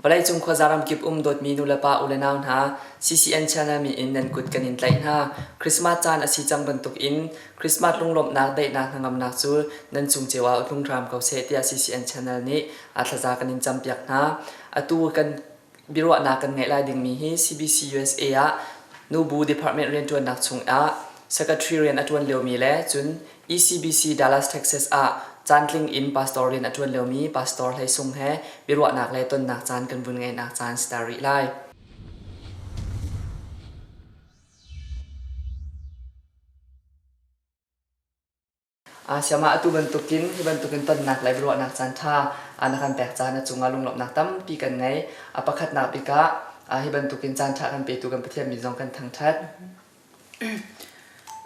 Vawleicung khuaza ramkip um dawtmi nulepa ulenau hna, CCN channel min in nan kut kan in tlaih hna. Christmas caan a si cang bantukin Christmas lunglawmhnak daihnak hnangamnak cu nan cung cio ah tlung hram ko seh tiah CCN channel nih a thlaza kan in campiak hna. Atu kan biaruahnak kan ngeih lai dingmi hi CBC USA ah nubu department rianṭuannak chung ah secretary rian a ṭuan liomi le cun ECBC Dallas, Texas ah caantling in pastor rian a ṭuan liomi pastor Hlei Sung he biaruahnak le tonnak caan kan vun ngeihnak caan si ta rih lai. Uh, siamah atu bantukin hi bantukin tonnak le biaruahnak caan ṭha uh, na kan pek caan a cungah lunglawmhnak tampi kan ngei. Uh, pakhatnak bikah uh, hi bantukin caan ṭha kan petu kan Pathian min zong kan thangṭhat.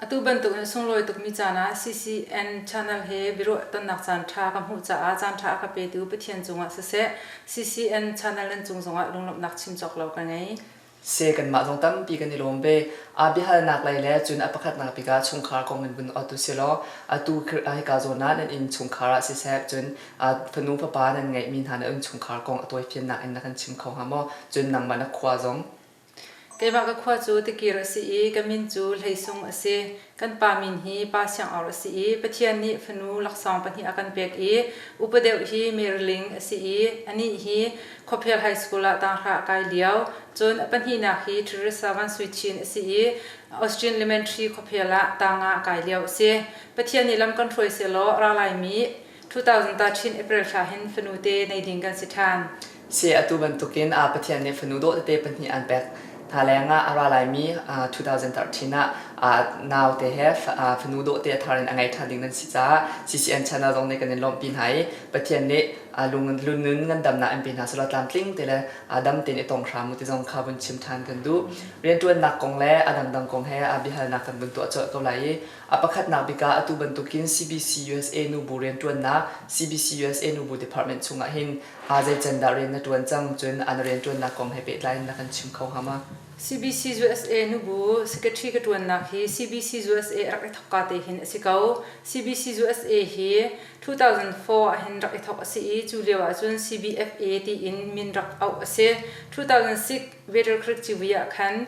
Atu bantukin sunglawi tukmi caan ah CCN channel he biaruah tonnak caanṭha ka hmuh caah caanṭha a ka petu Pathian cungah siseh CCN channel nan cung zongah lunglawmhnak chim cawk lo ka ngei. Se kanmah zong tampi kan i lawm ve. Aa biahalnak lei le cun a pakhatnak tikah chungkhar kong in vun awt u silaw atu hika zawn ah nan inn chungkhar ah siseh cun fanu fapa nan ngeihmi hna nan innchungkhar kong a tawifiannak in na kan chim kho hnga maw? Cun nangmah na khua zong. Keiwah ka khua cu tikir a si i ka min cu Hleisung a si. Kan pa min hi Pa Siangor a si i Pathian nih fanu laksawng pahnih a kan pek i upa deuh hi Meriling a si i anih hi Khuaphel High School ah tanghra a kai lio. Cun a pahnihnak hi Teresa Van Sui Chin a si i Austin Elementary khuaphel ah tanga a kai lio a si. Pathian nih lam kan hruai sehlaw ra laimi 2000ta Chin April thla hin fanu te nei ding kan si ṭhan. Si atu bantukin ah Pathian nih fanu dawh tete pahnih an pek hna leng ah a ra laimi 2013 ah nau te he fanu dawh te a thar in a ngei ṭhan ding nan si caah CCN channel zong nih kan in lawmhpi hna i Pathian nih lungnun ngandamnak an pe hna selaw tlamtling te le dam tein i tong hram u ti zong kha vun chim ṭhan kan duh. Rianṭuannak kong le a dangdang kong he biahalnak kan vun tuah colh ko lai i A pakhatnak bik ah atu bantukin CBCUSA nubu rianṭuannak, CBCUSA nubu department chungah hin aa zei can dah rian na ṭuan cang, cun a na rianṭuannak kong he pehtlai in na kan chim kho hnga ma? CBCUSA nubu secretary ka ṭuannak hi CBCUSA rak i thawkka te hin a si ko. CBCUSA hi two thousand four ah hin rak i thawk a si i cu lio ahcun CBFA tiin min rak auh a si. two thousand six Veterkrit Civui ah khan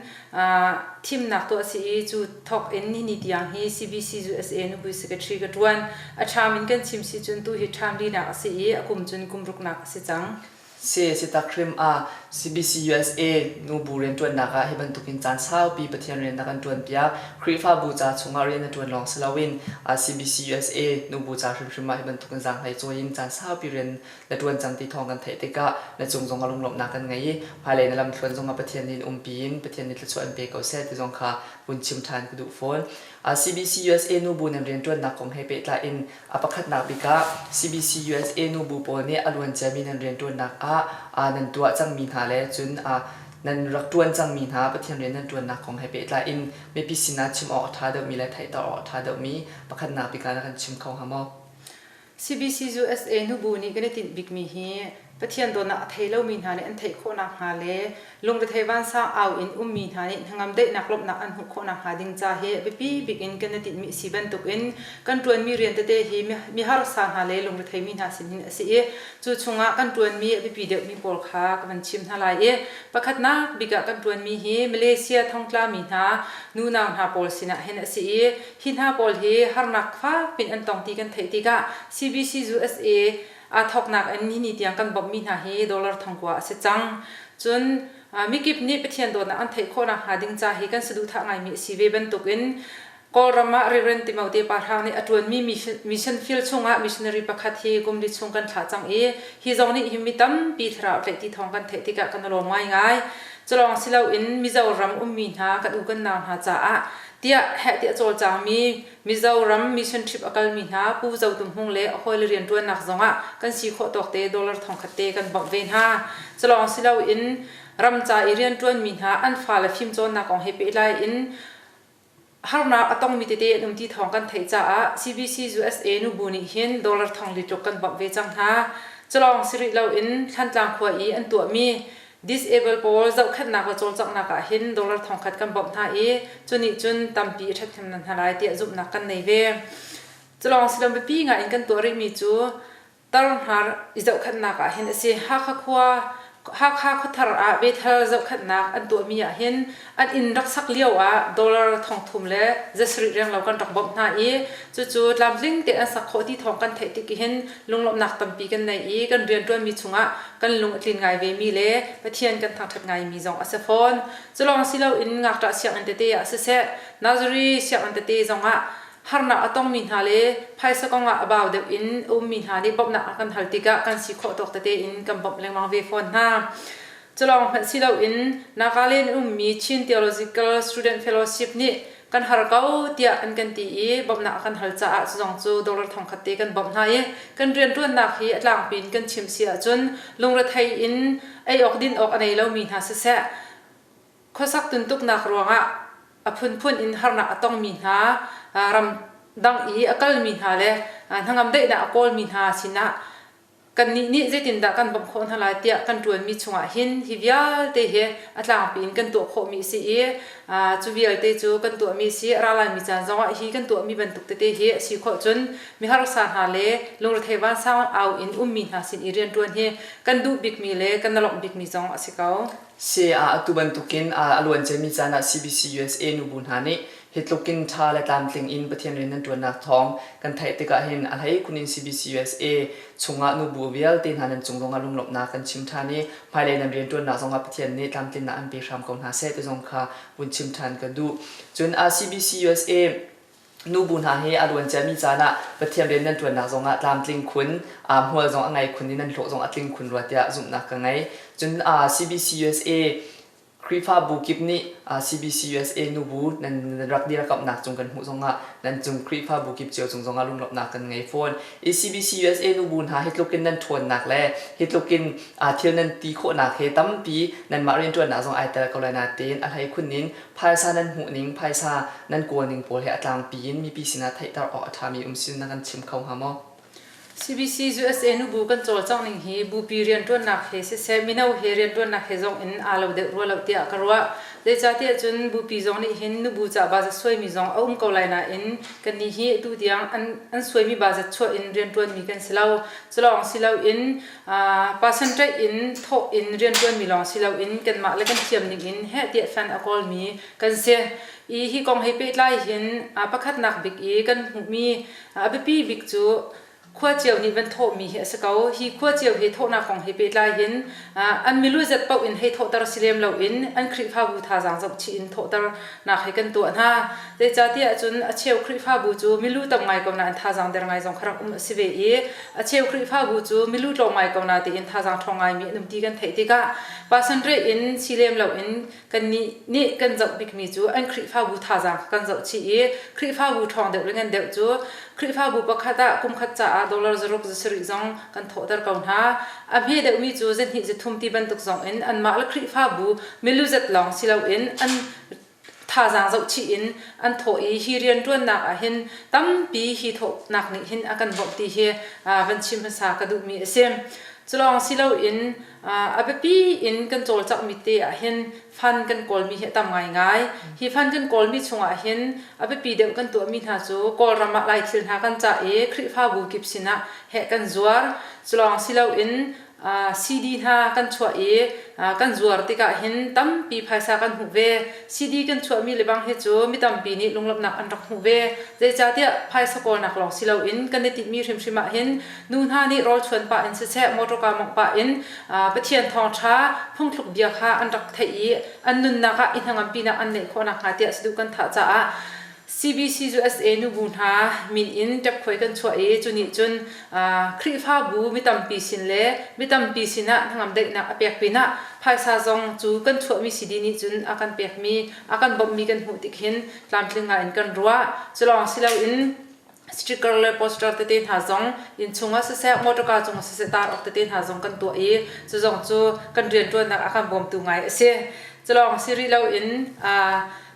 thimnak tuah si i cu thawk in ni tiang hi CBC zu SA nupi secretary ka ṭuan. A ṭham in kan chim si cun tu hi ṭham linak a si i a kum cun kum ruknak a si cang. Sae Sitak hrim ah CBC usa nubu rianṭuannak ah hi bantukin caan saupi Pathian rian a kan ṭuanpiak. Khrihfabu ca chungah rian a ṭuan lawng si loin CBC usa nubu ca hrimhrim ah hi bantukin zaanghlei cawi in caan saupi rian na ṭuan cang ti thawng kan theih tikah na cung zong a lunglawmhnak kan ngei i hmailei na lamthluan zongah Pathian nih in umpi in Pathian nih thluachuah an pe ko seh ti zong kha vun chim ṭhan ka duh fawn. CBCUSA nubu nan rianṭuannak kong he pehtlai in a pakhatnak bik ah CBCUSA nubu pawl nih a luan ciami nan rianṭuannak ah nan tuah cangmi hna le cun nan rak ṭuan cangmi hna Pathian rian nan ṭuannak kong he pehtlai in mipi sinah chim awk a ṭha deuhmi le theihter awk a ṭha deuhmi pakhatnak bik ah na kan chim kho hnga maw? CBCUSA nubu nih kan i tinh bikmi hi Pathian dawtnak a thei lomi hna nih an theih khawh nakhnga le lungrethei vansang au in ummi hna nih hnangamdeihnak lawmhnak an hmuh khawh nakhnga ding ca hi biapi bik in kan i tinhmi a si bantukin kan ṭuanmi rian tete hi miharsa hna le lungretheimi hna sinin a si i cu chungah kan ṭuanmi a biapi deuhmi pawl kha ka van chim hna lai i pakhatnak bik ah kan ṭuanmi hi Malaysia thongtlami hna nunau hna pawl sinah hin a si i Hi hna pawl hi harnak fak pi'n an tong ti kan theih tikah CBCUSA aa thawknak in hi ni tiang kan bawmhmi hna hi dollar thongkua a si cang. Cun mikip nih Pathian dawtnak an theih khawh nakhnga ding ca hi kan saduhthah ngaimi a si ve bantukin Kawlram ah Rev. Timote Pa Hrang nih a ṭuanmi mission field chungah missionary pakhat hi kum li chung kan thlah cang i hi zong nih hi mi tampi thlarau tlaih ti thawng kan theih tikah kan i lawm ngaingai. Culawng si loin Mizoram ummi hna kan u kan nau hna caah tiah heh ti a cawlcangmi Mizoram mission trip a kalmi hna Pu Zo Tum Hmung le a hawile rianṭuannak zongah kan si khawh tawk te dollar thongkhat te kan bawmh ve hna. Culawng si loin ram ca i rianṭuanmi hna an fale fimcawnnak kong he pehtlai in harnak a tongmi tete an um ti thawng kan theih caah CBC-USA nubu nih hin dollar thong li tluk kan bawmh ve cang hna. Culawng si rih loin Thlantlang khua i an tuahmi Disable pawl zohkhenhnak le cawlcanghnak ah hin dollar thongkhat kan bawmh hna i cu nih cun tampi ṭhathnemnak hna lai tiah zumhnak kan nei ve. Culawng si lo biapi ngai in kan tuah rihmi cu tarhnar i zohkhenhnak ah hin a si. Hakha khua Hakha khuathar ah Bethel zohkhenhnak an tuahmi ah hin An inn rak sak lioah dollar thongthum le za sarih renglo kan rak bawmh hna i cucu tlamtling tein an sak khawh ti thawng kan theih tik hin lunglawmhnak tampi kan nei i kan rianṭuanmi chungah kan lung a tlin ngai vemi le Pathian kan thangṭhat ngaimi zong a si fawn. Culawng si loin ngakṭah sianginn tete ah siseh, nursery sianginn tete zongah harnak a tongmi hna le phaisa kongah a bau deuh in a ummi hna nih bawmhnak an kan hal tikah kan si khawh tawk tete in kan bawmh lengmang ve fawn hna. Culawng hmanh si loin Nagaland ummi Chin Theological Student Fellowship nih kan har ko tiah an kan ti i bawmhnak a kan hal caah cu zong cu Doctor thong khat te kan bawmh hna i kan rianṭuannak hi a tlangpi in kan chim si ahcun lungrethei in ei awk din awk a nei lomi hna siseh khuasak tuntuknak ruangah a phunphun in harnak a tongmi hna ram dang i a kalmi hna le hnangamdaihnak a kawlmi hna sinah kannih nih zeitindah kan bawmh khawh hna lai tiah kan ṭuanmi chungah hin hi vialte hi a tlangpi in kan tuah khawhmi a si i cu vialte cu kan tuahmi a si ra laimi caan zongah hi kan tuahmi bantuk tete hi a si khawh cun miharsa hna le lungrethei vansang au in ummi hna sin i rianṭuan hi kan duh bikmi le kan na lawmh bikmi zong a si ko. Si ah atu bantukin a luanciami caan ah CBC usa nubu hna nih Hi tluk in tha le tlamtling in Pathian rian nan tuannak thawng kan theih tikah hin a hlei-khun in CBCUSA chungah nubu vialte hna nan cung lawngah lunglawmhnak kan chim than i hmailei nan riantuannak zongah Pathian nih tlamtlinnak an pe hram ko hna seh ti zong kha vun chim than ka duh. Cun CBCUSA nubu hna hi a luanciami caan ah Pathian rian nan tuannak zongah tlamtling khun, hmual zong a ngei khun i nan hlawh zong a tling khun rua tiah zumhnak ka ngei. Cun CBCUSA Khrihfabu kip nih CBCUSA nubu nan rak dirkamhnak cung kan hmuh zongah nan cung Khrihfabu kip cio cung zongah lunglawmhnak kan ngei fawn. I CBCUSA nubu hna hi tluk in nan ṭhawnnak le hi tluk in thil nan ti khawhnak he tampi nanmah rianṭuannak zong ai tel ko lai nain a hleikhun in phaisa nan hmuhning, phaisa nan kawlning pawl hi a tlangpi in mipi sinah theihter awk a ṭhami um si na kan chim kho hnga maw? CBC-USA nubu kan cawlcangh ning hi bupi rianṭuannak he siseh mino he rianṭuannak he zong in aa lo deuh rua loh tiah ka ruah. Zeicahtiah cun bupi zong nih hin nubu ca baza suaimi zong a um ko lai nain kannih hi atu tiang an, an suaimi baza chuah in rianṭuanmi kan si lo. Culawng si loin person ṭaih in thawh in rianṭuanmi lawng si loin kanmah le kan thiam ning in heh tiah fan a kawlmi kan si. I hi kong he pehtlai hin pakhatnak bik i kan hmuhmi A biapi bik cu khua cio nih van thawhmi hi a si ko. Hi khua cio he thawhnak kong he pehtlai hin an milu zet paoh in hei thawhter si lem loin an Khrihfabu thazaang zoh chih in thawhternak he kan tuah hna. Zeicatiah ahcun a cheu Khrihfabu cu milu tam ngai ko nain thazaang der ngai zong kha rak um a si ve i a cheu Khrihfabu cu milu tlawm ngai ko na tiin thazaang ṭhawng ngaimi an um ti kan theih tikah pasanreh in si lem loin kannih nih kan zoh bikmi cu an Khrihfabu thazaang kan zoh chih i Khrihfabu ṭhawng deuh le ngan deuh cu Khrihfabu pakhat ah kumkhat caah dollar zaruk zasarih zong kan thawhter ko hna. A hme deuhmi cu zahnih zithum ti bantuk zong in anmah le Khrihfabu milu zat lawng si loin an thazaang zoh chih in an thawh i hi rianṭuannak ah hin tampi hi thawhnak nih hin a kan bawmh ti hi van chim hmasa ka duhmi a si. Cu lawng si loin a biapi in kan cawlcanghmi te ahhin fund kan kawlmi hi a tam ngaingai. Hi fund kan kawlmi chungah hin a biapi deuh kan tuahmi hna cu Kawlram ah Lai thil hna kan cah i Khrihfabu kip sinah heh kan zuar. Culawng si loin CD hna kan chuah i kan zuar tikah hin tampi phaisa kan hmuh ve. CD kan chuahmi lebang hi cu mi tampi nih lunglawmhnak an rak hmuh ve. Zeicahtiah phaisa kawlnak lawng si loin kan i tinhmi hrimhrim ahhin Nu hna nih rawlchuan pah in siseh, motor kaa mawngh pah in Pathian thawngṭha, phungthluk bia kha an rak theih i an nunnak ah i hnangampinak an ngeih khawh nakhnga tiah saduh kan thah caah CBCUSA nubu hna min in ṭepkhuai kan chuah i cu nih cun Khrihfabu mi tampi sin le mi tampi sinah hnangamdaihnak a pek pinah phaisa zong cu kan chuahmi CD nih cun a kan pekmi, a kan bawmhmi kan hmuh tik hin tlamtling ngaiin kan ruah. Cu lawng si loin sticker le poster tete hna zong inn chungah siseh motor car cungah siseh tar awk tete hna zong kan tuah i cu zong cu kan rianṭuannak ah khan bawmtu ngai a si. Culawng si rih loin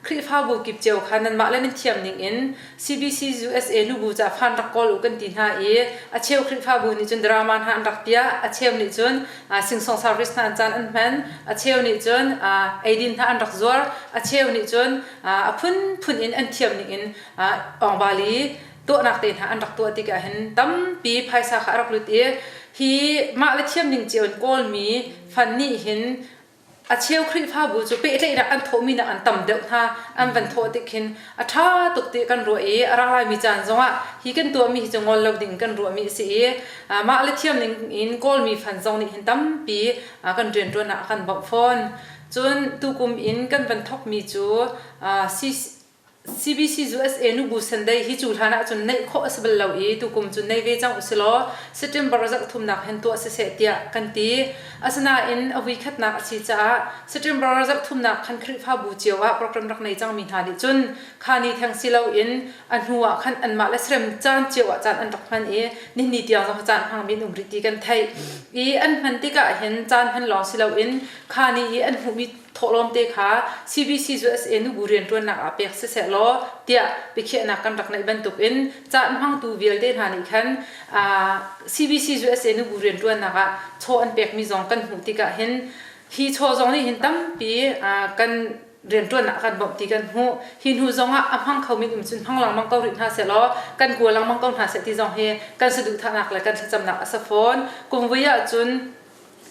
Khrihfabu kip cio kha nanmah le nan thiam ningin CBC USA nubu ca fan rak kawl u kan ti hna i a cheu Khrihfabu nih cun drama hna an rak piah, a cheu nih cun singsong service hna an caan an hman, a cheu nih cun eidin hna an rak zuar, a cheu nih cun a phunphun in an thiam ningin Ongvali tuahnak te hna an rak tuah tikah hin tampi phaisa kha a rak lut i hi mah le thiam ding cio in kawlmi fan nih hin a cheu Khrihfabu cu pehtlaihnak an thawhmi nak an tam deuh hna an van thawh tik khin a ṭha tuk ti kan ruah i a ra laimi caan zongah hi kan tuahmi hi cu ngol lo ding kan ruahmi a si i mah le thiam ning in kawlmi fan zong nih hin tampi kan rianṭuannak a kan bawmh fawn cun tukum in kan van thawkmi cu CBC zu SA nu Bu Sunday hi cu hlan ah cun neih khawh a si bal lo i tukum cu nei ve cang usilaw September zarh thumnak hen tuah siseh tiah kan ti. Asinain a vuikhatnak a si caah September zarh thumnak khan Khrihfabu cio ah program rak nei cangmi hna nih cun kha ni theng si loin a hnu ah khan anmah le serem caan cio ah caan an rak hman i nihni tiang zong caan hmangmi an um rih ti kan theih. I an hman tikah hin caan hman lawng si loin kha ni i an hmuhmi thawhlawmte kha CBC cu SA Nugu rianṭuannak ah pek siseh law tiah biakhiahnak kan rak neih bantuk in caan hmangtu vialte hna nih khan CBC cu SA Nugu rianṭuannak ah chaw an pekmi zong kan hmuh tikah hin hi chaw zong nih hin tampi kan rianṭuannak kan bawmh ti kan hmuh hi hnu zongah a hmang khomi um cun hmang lengmang ko rih hna seh law kan kua lengmang ko hna seh ti zong hi kan saduhthahnak le kan thlacamnak a sa fawn kum vui ahcun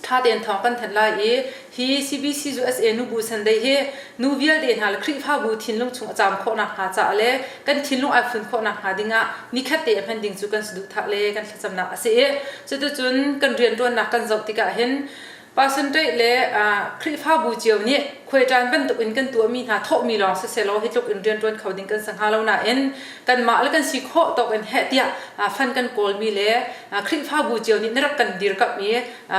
ṭha tein thawng kan thanh lai i hi CBCUSA nubu sandei hi nu vialte hna le Khrihfabu thinlung chung a caam khawh nakhnga caah le kan thinlung ai fun khawh nakhnga dingah nikhatte a hman ding cu kan saduhthah le kan thlacamnak a si i cuticun kan rianṭuannak kan zoh tikah hin Pastor Ṭaih le Khrihfabu cio nih khuaiṭan bantukin kan tuahmi hna thawhmi lawng sisehlaw hi tluk in rianṭuan kho ding kan si hnga lo nain kanmah le kan si khawh tawk in heh tiah fan kan kawlmi le Khrihfabu cio nih na rak kan dirkamh i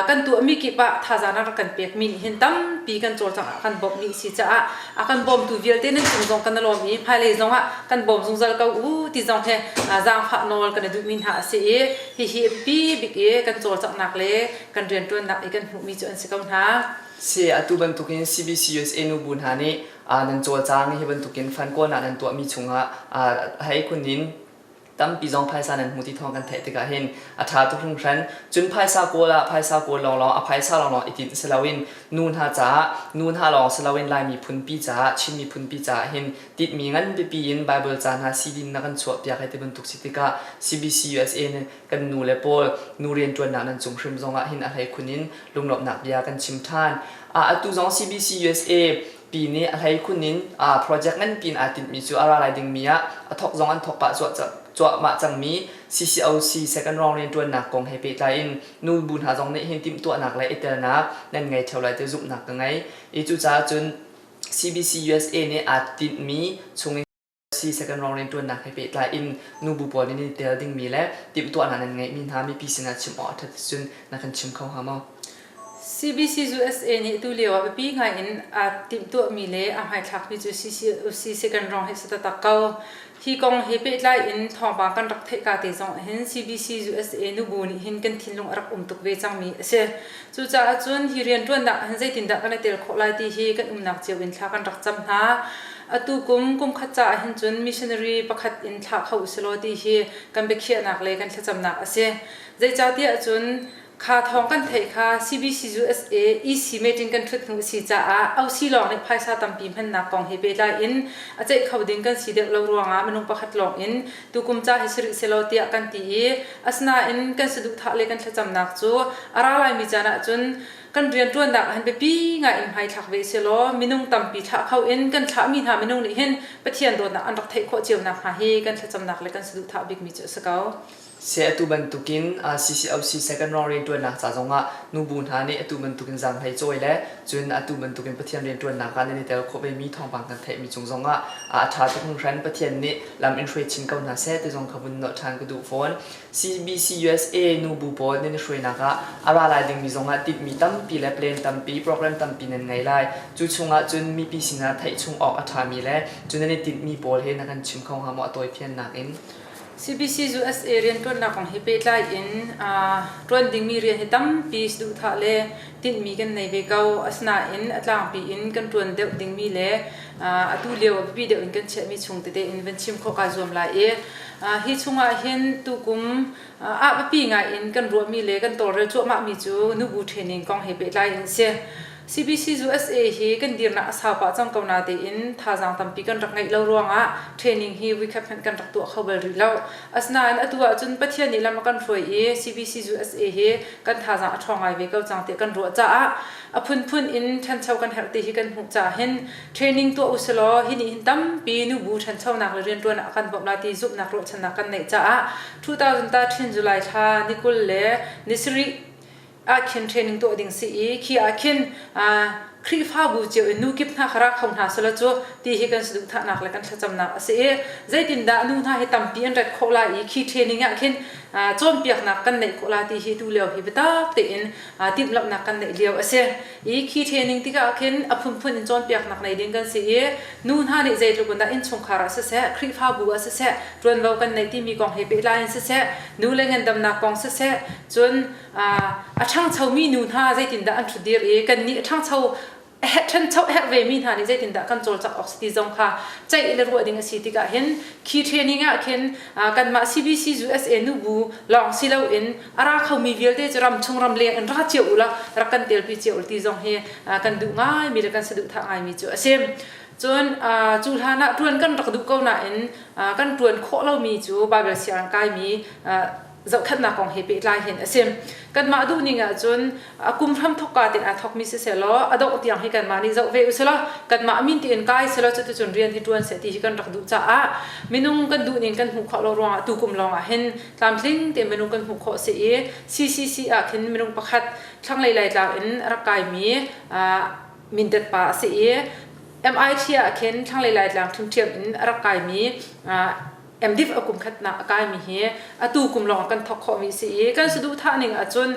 kan tuahmi kip ah thazaang a rak kan pekmi nih hin tampi kan cawlcangh ah kan bawmh dih si caah a kan bawmtu vialte nan cung zong kan na lawm i hmailei zong ah kan bawm zungzal ko u ti zong he zaangfah nawl kan i duhmi hna a si i hihi bibik i kan cawlcanghnak le kan rianṭuannak i kan hmuhmi cu an si ko hna. Si, atu bantukin CBC usa nubu hna nih ah nan cawlcang hi bantukin fan kawl ah nan tuahmi chungah hei kun in tampi zong phaisa nan hmu ti thawng kan theih tikah hin a ṭha tuk hringhran cun phaisa kawl ah phaisa kawl lawnglawng a phaisa lawnglawng i tinh si loin nu hna caah nu hna lawng si loin lai miphunpi caah Chin miphunpi caah hin tinhmi nganpipi in Bible ca hna CD na kan chuahpiak hei ti bantuk si tikah CBC USA Kan nu le pawl nu rianṭuannak nan cung hrim zongah hin a hleikhun in lunglawmhnak bia kan chim ṭhan. Atu zong CBC usa pi nih a hleikhun in project nganpi in aa tinhmi cu a ra lai dingmi ah a thawk zong an thawk pah cuahmah cangmi CCOC second round rianṭuannak kong he pehtlai in nu bu hna zong nih hin timhtuahnak le i telnak nan ngei ṭheo lai ti zumhnak ka ngei i cucaah cun CBC usa nih aa tinhmi chungin si second round rianṭuannak he pehtlai in nubu pawl nih nan i tel dingmi le timhtuahnak nan ngeihmi hna mipi sinah chim awk a ṭhat cun na kan chim kho hnga maw? CBC cu USA nih atu lio ah biapi ngai in aa timhtuahmi le aa hmaithlakmi cu CCUC second round hi a si taktak ko. Hi kong he pehtlai in thawngpang kan rak theih ka te zong ah hin CBC USA nubu nih hin kan thinlung a rak um tuk ve cangmi a si. Cucaah cun hi rianṭuannak ah hin zeitindah kan i tel khawh lai ti hi kan umnak cio in thla kan rak cam hna. Atu kum kumkhat caah hin cun missionary pakhat in thlah kho usilaw ti hi kan biakhiahnak le kan thlacamnak a si. Zeicahtiah cun kha thawng kan theih kha CBCUSA EC meeting kan ṭhut hnu a si caah OC lawng nih phaisa tampi hmannak kong he pehtlai in a ceih kho ding kan si deuh lo ruangah minung pakhat lawng in tukum ca hi si rih selaw tiah kan ti i asinain kan saduhthah le kan thlacamnak cu a ra laimi caan ahcun kan rianṭuannak ah hin biapi ngaiin hmaithlak ve selaw minung tampi thlah kho in kan thlahmi hna minung nih hin Pathian dawtnak an rak theih khawh cio nakhnga hi kan thlacamnak le kan saduhthah bikmi cu a si ko. Seh atu bantukin CCOC second-round rianṭuannak ca zongah nubu hna nih atu bantukin zaanghlei cawi le cun atu bantukin Pathian rianṭuannak ah nan i tel khawh vemi thawngpang kan theihmi cung zongah a ṭha tuk hringhran. Pathian nih lam in hruai chin ko hna seh ti zong ka vun nolh ṭhan ka duh fawn. CBC USA nu bu pawl nan i hruainak ah a ra lai dingmi zongah timhmi tampi le plan tampi, program tampi nan ngei lai. Cu chungah cun mipi sinah theih chung awk a ṭhami le cu nan i tinhmi pawl hi na kan chim kho hnga maw a tawifiannak in? CBC USA rianṭuannak kong he pehtlai in ṭuan dingmi rian hi tampi duhthah le tinhmi kan nei ve ko. Asinain a tlangpi in kan ṭuan deuh dingmi le atu lio a biapi deuh in kan chiahmi chung tete in van chim khawh kaa zuam lai i hi chungah hin tukum ahbiapi ngai in kan ruahmi le kan tawlrel cuahmahmi cu nubu training kong he pehtlai in si. CBC USA hi kan dirnak a sau pah cang ko natein thazaang tampi kan rak ngeih lo ruangah training hi vuikhat hmanh kan rak tuah kho bal rih lo. Asinain atu ahcun Pathian nih lam a kan hruai i CBC USA hi kan thazaang a ṭhawng ngai ve ko cang tiah kan ruah caah a phunphun in ṭhancho kan herh ti hi kan hmuh caah hin training tuah usilaw hi nih hin tampi nubu ṭhanchonak le rianṭuan ah a kan bawmh lai ti zumhnak ruahchannak kan neih caah 2013 July thla ni kul le ni sarih ah khin training tuah ding si i khi ah khin Khrihfabu cio in nu kip hna kha ra kho hna selaw cu ti hi kan saduhthahnak le kan thlacamnak a si i zeitindah nu hna hi tampi an ret khawh lai i khi training ah khin cawnpiaknak kan neih khawh lai ti hi tu lio hi biatak tein timhlamhnak kan neih lio a si i khi training tikah khin a phunphun in cawnpiaknak nei ding kan si i nu hna nih zeitluk in dah innchungkhar ah siseh Khrihfabu ah siseh ṭuanvo kan nei timi kong he pehtlai in siseh nu le ngandamnak kong siseh cun a ṭhangchomi nu hna zeitindah an ṭhutdir i kannih a ṭhangcho a herh ṭhancho a herh vemi hna nih zeitindah kan cawlcangh awk si ti zong kha ceih le ruah ding a si tikah hin khi training ah khin kanmah CBC USA nubu lawng si loin a ra khomi vialte cu ramchung ramleng in ra cio u la rak kan telpi cio u ti zong hi kan duh ngaimi le kan saduhthah ngaimi cu a si cun cu hlan ah ṭuan kan rak duh ko nain kan ṭuan khawh lomi cu Baibal sianginn kaimi zohkhannak kong he pehtlai hin a si kanmah duhning ahcun a kum hram thokka te aa thokmi si selaw a dongh tiang hi kanmah nih zoh ve usilaw kanmah min tiin kai selaw cuticun rian hi ṭuan seh ti hi kan rak duh caah minung kan duhning kan hmuh khawh lo ruangah tukum lawngah hin tlamtling te minung kan hmuh khawh si i CCC ah khin minung pakhat thlanglei laitlang in rak kaimi mindet pa a si i MIT ah khin thlanglei laitlang ṭhimṭhiam in a rak kaimi MDiv a kum khatnak a kaimi hi atu kum lawng kan thawk khawhmi si i kan saduhthah ning ahcun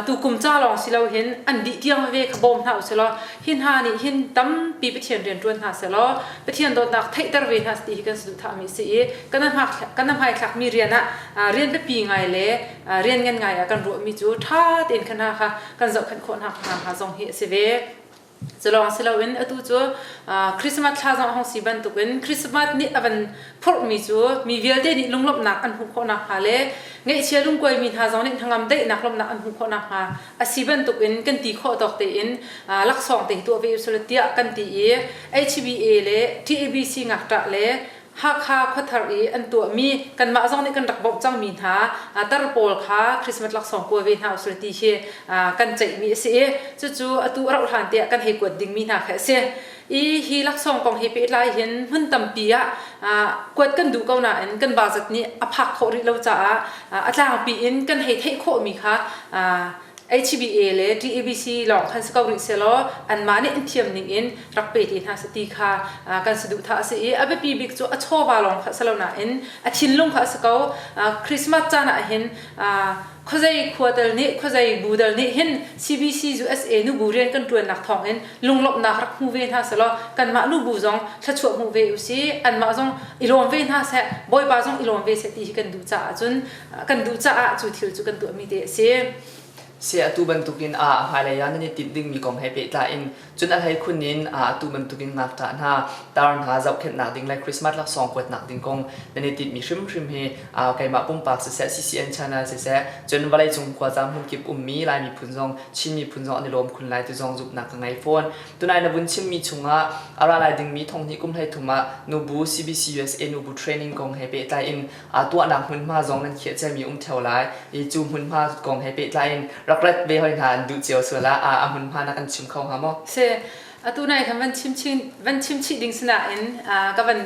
tu kum ca lawng si lo hin an dih tiang ve kha bawm hna usilaw hi hna nih hin tampi Pathian rian ṭuan hna selaw Pathian dawtnak theihter ve hna ti hi kan saduhthahmi si i kan kan hmaithlakmi rian ah rian biapi ngai le rian ngan ngai ah kan ruahmi cu ṭha tein khan hna kha kan zohkhenh khawh hna zong hi a si ve. Culawng si loin atu cu Christmas thla zong a hong si bantukin Christmas nih a van phurhmi cu mi vialte nih lunglawmhnak an hmuh khawh nakhnga le ngeihchia lungkuaimi hna zong nih hnangam daihnak lawmhnak an hmuh khawh nakhnga a si bantukin kan ti khawh tawk tein laksawng te hi tuah ve usih tiah kan ti i HBA le TABC ngakṭah le Hakha khuathar i an tuahmi kanmah zong nih kan rak bawmh cangmi hna tar pawl kha Christmas laksawng kua ve hna usih ti hi kan ceihmi a si i cucu atu a rauh hlan te ah kan hei kuat dingmi hna kha a si i hi laksawng kong he pehtlai hin hmun tampi ah kuat kan duh ko nain kan va zat nih a phak khawh rih lo caah a tlangpi in kan hei theih khawhmi kha HBA le TABC lawng khan si ko rih selaw anmah nih an thiam ning in rak pe te hna si ti kha kan si duh tha a si i a biapi bik cu a chawva lawng kha si lo nain a thinlung kha a si ko Christmas caan ah hin khuazei khuatal nih khuazei bu dal nih hin CBC USA nubu rian kan tuannak thawng in lunglawmhnak rak hmu ve hna selaw kanmah nubu zong thlachuah hmu ve u si anmah zong i lawm ve hna seh bawipa zong i lawm ve seh ti hi kan duh caah cun kan duh caah cu thil cu kan tuahmi te a si. Si atu bantukin ah hmailei ah nan i timh dingmi kong he pehtlai in cun a hlei khun in atu bantukin ngakṭah hna tar hna zohkhenhnak ding le Christmas laksawng kuatnak ding kong nan i timhmi hrimhrim hi keimah pumpak siseh CCN channel siseh cun vawleicung khuaca hmunkip ummi Lai miphun zong Chin miphun zong an i lawm khun lai tu zong zumhnak ka ngei fawn. Tunai na vun chimmi chungah a ra lai dingmi thonghni kum hlei thum ah nubu CBC USA nubu training kong he pehtlai in aa tuahnak hmunhma zong nan khiahciami a um ṭheo lai i cu hmunhma kong he pehtlai in rak let ve hoi hna an duh cio sual ah a hmunhma na kan chim kho hnga maw? Si. Atu nai khan van chimchih van chimchih ding sinain ka van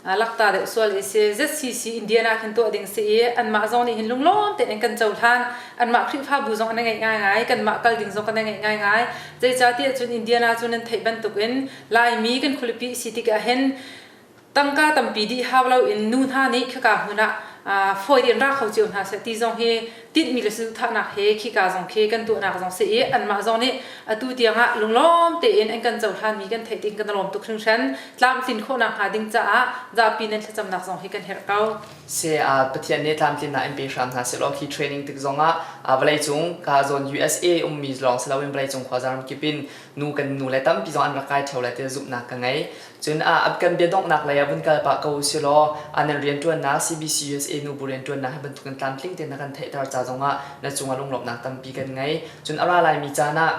lakta deuh sual i si ZCC Indiana khin tuah ding si i anmah zong nih hin lunglawm tein kan cohlan anmah Khrihfabu zong na ngeih ngaingai kanmah kal ding zong kan na ngeih ngaingai zeicahtiah cun Indiana cu nan theih bantukin Laimi kan khualipi si tikah hin tangka tampi dih hau loin nu hna nih khika hmun ah fawi in ra kho cio hna seh ti zong hi tinhmi le saduhthahnak he khika zong khi kan tuahnak zong si i anmah zong nih atu tiang ah lunglawm tein an kan cohlanmi kan theih ding kan lawm tuk hringhran tlamtlin khawhnak hnga ding caah zapi nan thlacamnak zong hi kan herh ko se pathian nih tlamtlinnak in pe hram hna selaw khi training tik zong ah vawleicung ka zawn USA ummi lawng si loin vawleicung khuaza ram kip in nu kan nu le tampi zong an rak kai theo le ti zumhnak ka ngei Cun aa ap kan biadonghnak lei ah vun kal pah ko usihlaw a nan rianṭuannak CBCUSA nubu rianṭuannak hi bantukin tlamtling tein na kan theihter ca zongah na cungah lunglawmhnak tampi kan ngei. Cun a ra laimi caan ah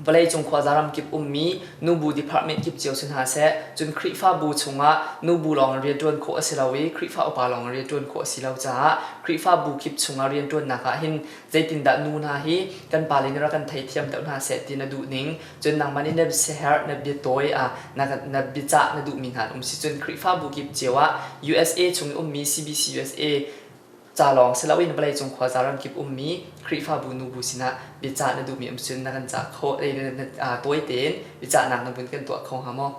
vawleicung khuaza ram kip ummi nubu department kip cio si hna seh cun Khrihfabu chungah nubu lawng in rianṭuan khawh a si lo i Khrihfa upa lawng in rianṭuan khawh a si lo caah Khrihfabu kip chungah rianṭuannak ah hin zeitindah nu hna hi kan pale nih rak kan theithiam deuh hna seh ti na duh ning Cun nangmah nih na biaherh, na biatawi, na biacah na duhmi hna an um si cun Khrihfabu kip cio ah usa chung i ummi CBCUSA ca lawng si loin vawleicung khuaza ramkip ummi Khrihfabu nubu sinah biacah na duhmi um si cun na kan cah kho tawite in biacahnak na vun kan tuah kho hnga maw?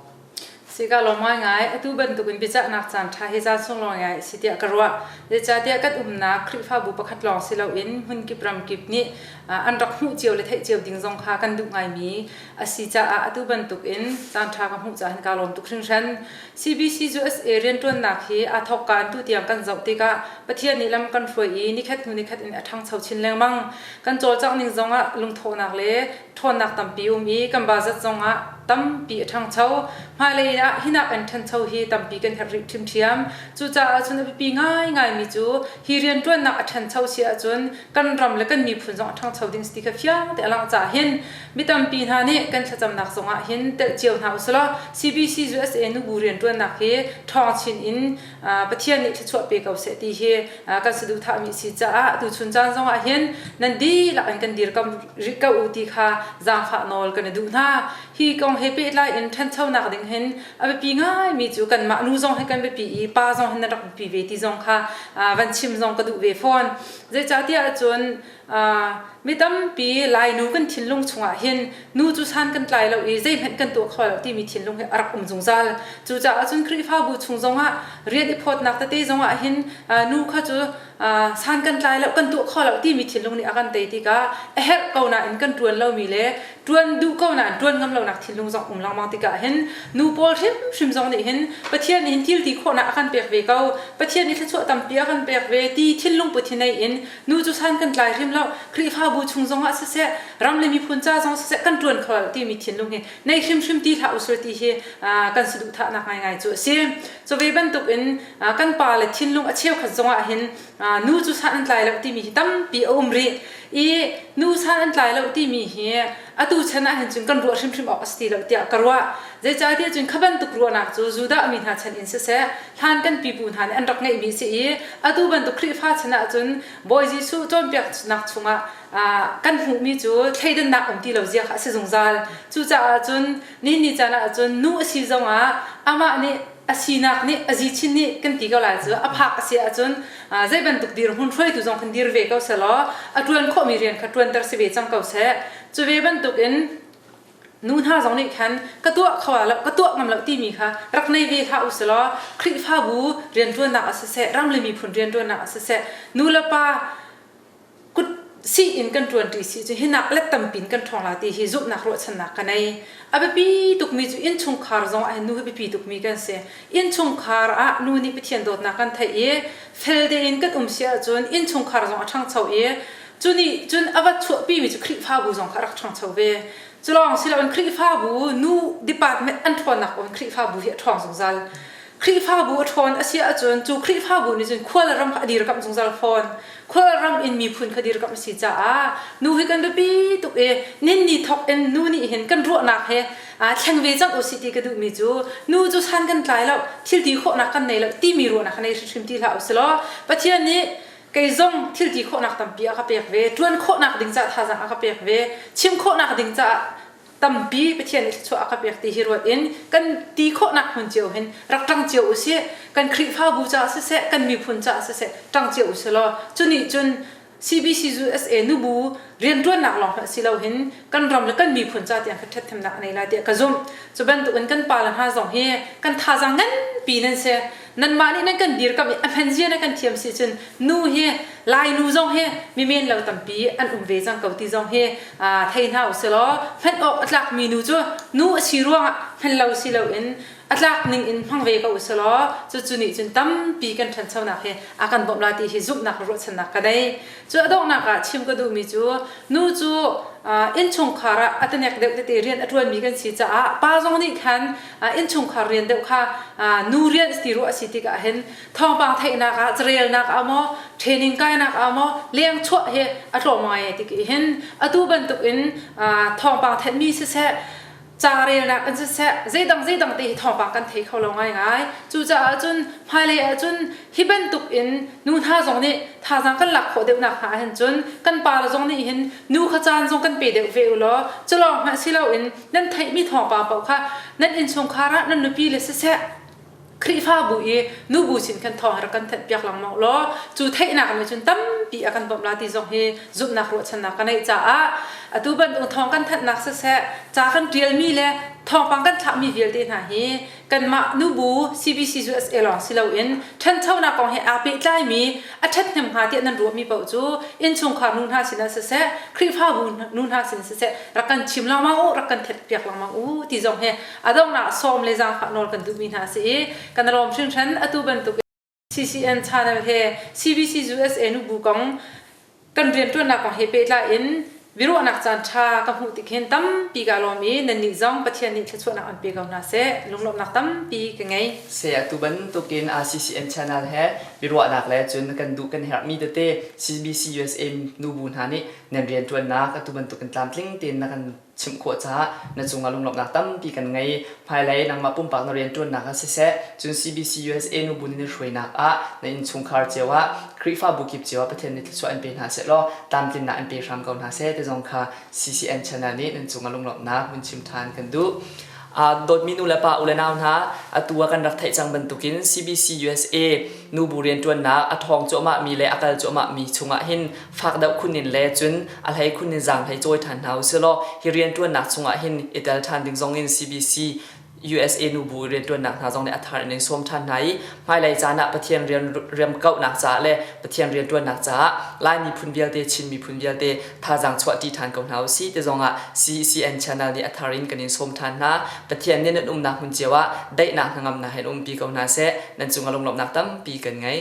Sika lawng ngaingai, atu bantukin biacahnak caan ṭha hi zaan sung lawng ngai a si tiah ka ruah. Zeicahtiah kan umnak Khrihfabu pakhat lawng si loin hmunkip ramkip nih an rak hmuh cio le theih cio ding zong kha kan duh ngaimi a si caah atu bantukin caan ṭha ka hmuh caah hin kaa lawm tuk hringhran. CBC USA rianṭuannak hi aa thawkkan tu tiang kan zoh tikah Pathian nih lam kan hruai i nikhat hnu nikhat in a ṭhangcho chin lengmang. Kan cawlcangh ning zongah lungthawhnak le ṭhawnnak tampi um i kan ba zat zongah tampi a ṭhangcho. Hmailei ah hi nak in ṭhancho hi tampi kan herh rih ṭhimṭhiam. Cucaah cun a biapi ngaingaimi cu hi rianṭuannak a ṭhancho si ahcun kan ram le kan miphun zong a ṭhangcho ding si ti kha fiang te a langh caah hin mi tampi hna nih kan thlacamnak zongah hin telh cio hna usilaw CBCUSA nubu rianṭuannak hi ṭhawng chin in Pathian nih thluachuah pe ko seh ti hi kan saduhthahmi si caah tuchun caan zongah hin nan dihlak in kan dirkam rih ko u ti kha zaangfah nawl kan i duh hna. Hi kong he pehtlai in ṭhanchonak ding hin a biapi ngaimi cu kanmah nu zong hi kan biapi i pa zong hin nan rak biapi ve ti zong kha van chim zong ka duh ve fawn. Zeicahtiah ahcun Mi tampi Lainu kan thinlung chungah hin nu cu san kan tlai lo i zeihmanh kan tuah kho lo timi thinlung hi a rak um zungzal. Cucaah cun Khrihfabu chung zongah rian i phawtnak tete zongah hin nu kha cu san kan tlai lo, kan tuah kho lo timi thinlung nih a kan tei tikah a herh ko nain kan ṭuan lomi le ṭuan duh ko nain ṭuan ngam lonak thinlung zong um lengmang tikah hin nu pawl hrimhrim zong nih hin Pathian nih hin thilti khawhnak a kan pek ve ko, Pathian nih thluachuah tampi a kan pek ve ti thinlung put hi nei in Nu cu san kan tlai hrim lo Khrihfabu chung zong ah siseh ram le miphun ca zong siseh kan ṭuan kho lo timi thinlung hi nei hrimhrim ti hlah usir ti hi kan si duhthahnak ngaingai cu a si. Cu ve bantuk in kan pa le thinlung a cheukhat zong ah hin nu cu san an tlai lo timi hi tampi a um rih i nu san an tlai lo timi hi atu chan ah hin cun kan ruah hrimhrim awk a si ti lo tiah ka ruah zeicahtiah cun kha bantuk ruahnak cu Judah mi hna chan in siseh hlan kan pipu hna nih an rak ngeihmi a si i atu bantuk Khrihfa chan ah cun Bawi Jesuh cawnpiaknak chungah kan hmuhmi cu thleidannak um ti lo zia kha a si zungzal cucaah cun Nihin ni caan ah cun nu a si zong ah amah nih a sinak nih a zichin nih kan ti ko lai cu a phak a si ahcun zei bantuk dir hmun hruaitu zong kan dir ve ko selaw a ṭuan khawhmi rian kha ṭuanter si ve cang ko seh. Cu ve bantuk in nu hna zong nih khan ka tuah kho lo ka tuah ngam lo timi kha rak nei ve hlah u selaw Khrihfabu rianṭuannak ah siseh ram le miphun rianṭuannak ah siseh nu le pa kut sih in kan ṭuanṭi si cu hi nak le tampi in kan ṭhawngla ti hi zumhnak ruahchannak ka nei. A biapi tukmi cu innchungkhar zong ah hin nu hi biapi tukmi kan si. Innchungkhar ah nu nih Pathian dawtnak kan theih i fel tein kan um si ahcun innchungkhar zong a ṭhangcho i cu nih cun a va chuahpimi cu Khrihfabu zong kha a rak ṭhangcho ve. Cu lawng si loin Khrihfabu nu department an ṭhawnnak kong in Khrihfabu hi a ṭhawng zungzal. Khrihfabu a ṭhawn a si ahcun cu Khrihfabu nih cun khual ram a dirkamh zungzal fawn. Khual ram in miphun kha dirkamh a si caah nu hi kan biapi tuk i ninni thawk in nu nih hin kan ruahnak he aa thleng ve cang usih ti ka duhmi cu nu cu san kan tlai lo, thilti khawhnak kan nei lo timi ruahnak ka nei hrimhrim ti hlah usilaw Pathian nih kei zong thilti khawhnak tampi a ka pek ve, ṭuan khawhnak ding caah thazaang a ka pek ve, chim khawhnak ding caah tampi Pathian nih thluachuah a ka pek ti hi ruat in kan ti khawhnak hmun cio hin rak ṭang cio usih. Kan Khrihfabu caah siseh, kan miphun caah siseh ṭang cio usihlaw cu nih cun CBCUSA nubu rianṭuannak lawng hmanh si loin kan ram le kan miphun ca tiang khan ṭhathnemnak a ngei lai tiah ka zumh. Cu bantukin kan pale hna zong hi kan thazaang nganpi nan si. nanmah nih nan kan dirkamh i a hman zia na kan thiam si cun nu hi lainu zong hi mimen lo tampi an um ve cang ko ti zong hi thei hna usilaw hman awk a tlakmi nu cu nu a si ruangah hman lo si loin a tlak ning in hmang ve ko usilaw cucu nih cun tampi kan ṭhanchonak hi a kan bawmh la ti hi zumhnak le ruahchannak ka nei cu a donghnak ah chim ka duhmi cu nu cu innchungkhar ah a tanek deuh tete rian a ṭuanmi kan si caah pa zong nih khan innchungkhar rian deuh kha nu rian ti ru a si tikah hin thawngpang theihnak ah carelnak ah maw training kainak ah maw lengchuah hi a tlawm ngai ti hin atu bantuk in thawngpang thenmi siseh ca relnak in siseh zeidang zeidang te hi thawngpang kan thei kho lo ngai ngai cucaah cun hmailei ah cun hi bantuk in nu hna zong nih thazang kan lak khawh deuhnak hna hin cun kan pa zong nih hin nu kha caan zong kan pe deuh ve u law culawng hmanh si loin nan theihmi thawngpang paoh kha nan innchungkhar ah nan nupi le siseh Khrihfabu i nu bu sin khan thawng rak kan thanh-piak lengmang law cu theihnak nih cun tampi a kan bawmh la ti zong hi zumhnak ruahchannak ka neih caah atu bantuk thawng kan thanhnak siseh ca kan ṭialmi le thawngpang kan thlahmi vialte hna hi kanmah nubu CBC cu SA lawng si loin ṭhanchonak kong he aa pehtlaimi a ṭhathnem hnga tiah nan ruahmi paoh cu innchungkhar nu hna sin ah siseh Khrihfa nu hna sin siseh rak kan chim lengmang u rak kan ṭhetpiak lengmang u ti zong hi a donghnak sawm le zaangfah nawl kan duhmi hna a si i kan lawm hringhran atu bantuk CCN channel he CBC USA nu bu kong kan rianṭuannak kong he pehtlai in biaruahnak caan ṭha ka hmuh tik hin tampi ka lawm i nannih zong Pathian nih thluachuahnak an pe ko hna seh lunglawmhnak tampi ka ngei. Saya atu bantukin CCN channel he biaruahnak le cun kan duh kan herhmi tete CBC USA nu bu hna nih nan rianṭuannak atu bantukin tlamtling tein na kan chim khawh caah na cungah lunglawmhnak tampi kan ngei. Hmailei nangmah pumpak na rianṭuannak ah siseh, cun CBCUSA nu bu nih na hruainak ah na innchungkhar cio ah, Khrihfabu kip cio ah Pathian nih thluachuah an pe hna sehlaw tlamtlinnak an pe hram ko hna seh ti zong kha CCN channel nih nan cungah lunglawmhnak vun chim ṭhan kan duh. dawtmi nu le pa u le nau hna atu ah kan rak theih cang bantukin CBC USA nubu rianṭuannak a ṭhawng cuahmah mi le a kal cuahmah mi chungah hin fak deuh khun in le cun a hlei khun in zaang hlei cawi ṭhan hna usihlaw hi rianṭuannak chungah hin i tel ṭhan ding zong in CBC USA nubu rianṭuannak hna zong nih a thar in in sawm ṭhan hna i hmailei caan ah Pathian rian riamkauhnak caah le Pathian rianṭuannak caah Lai miphun vialte Chin miphun vialte thazaang chuahṭi ṭhan ko hna u sih ti zongah CCN channel nih a thar in kan in sawm ṭhan hna. Pathian nih nan umnak hmun cio ah daihnak hnangamnak he in umpi ko hna seh, nan cungah lunglawmhnak tampi kan ngei.